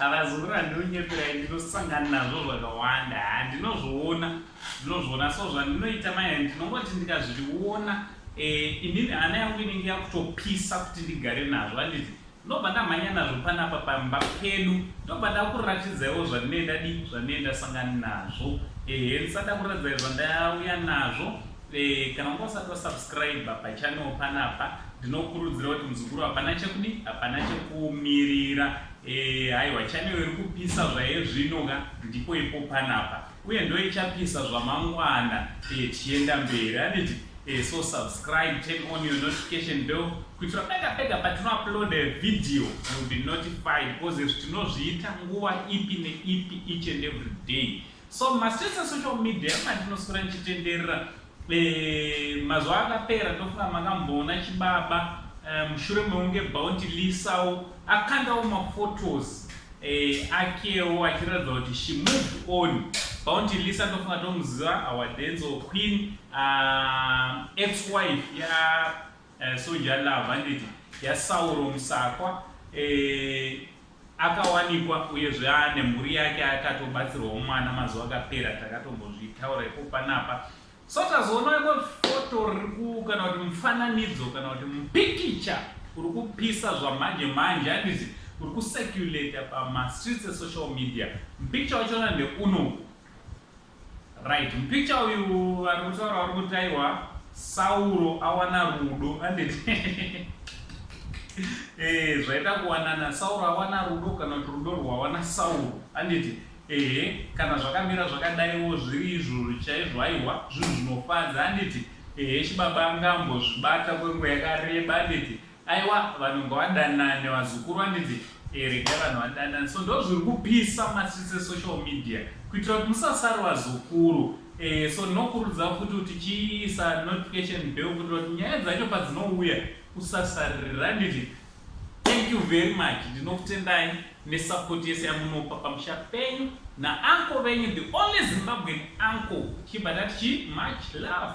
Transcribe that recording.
avazukuru andinonyepera ndinosangana nazvo zvakawanda haa ndinozviona ndinozviona so zvandinoita maya ndinongoti ndikazviona eh, inini hana yangu inenge yakutopisa kuti ndigare nazvo anditi ndobva ndamhanya nazvo panapa pamba pedu ndobva ndakuratidzaiwo zvandinee ndadi zvandinee ndasangana nazvo ehe ndisada kuratidzai zvandauya nazvo Eh, kana unga usati wasubscriba pachannel panapa ndinokurudzira kuti muzukuru hapana chekudi hapana chekumirira eh, haiwa e, channel iri kupisa zvaye zvino ka ndipo ipo panapa uye ndoichapisa zvamangwana e, tichienda mberi anditi e, so subscribe turn on your notification bell kuitira pega pega patinouploada video will be notified because izvi tinozviita nguva ipi neipi each and every day So mastreets esocial media mandinoswera ndichitenderera eh, mazuva akapera ndofunga makamboona chibaba eh, mushure meunge bounty lisawo akandawo maphotos eh, akewo achiratidza kuti she moved on bounty lisa ndofunga tomuziva our denzel queen ah, ex wife ya Eh, soja love handiti yasauro musakwa eh, akawanikwa uyezve ane mhuri yake akatobatsirwawo mwana mazuva akapera takatombozvitaura ipo panapa so tazoona imwe foto riku kana kuti mufananidzo kana kuti mupikicha uri kupisa zvamanje manje handiti uri kuseculata pamastreets esocial media mupikicha wachona ndeunoku Right, mupicha uyu vari kutaura vari kuti aiwa Sauro awana rudo anditi eh, zvaita kuwanana Sauro awana rudo kana kuti rudo rwawana Sauro anditi ehe kana zvakamira zvakadaiwo zviri izvozvo chaizvo aiwa zvinhu zvinofadza anditi ehe chibaba angambozvibata kwenguva yakareba anditi Aiwa vanhu ngavadanane vazukuru vanditi eh, regai vanhu vadanane so ndo zviri kupisa masisi esocial media kuitira kuti musasari vazukuru eh, so ndinokurudzira futi kuti chiisa notification bell kuitira kuti nyaya dzacho padzinouya usasaririra nditi thank you very much ndinokutendai nesapoti yese yamunopa pamusha penyu naanko venyu the only zimbabwean anko chibva tati chi much love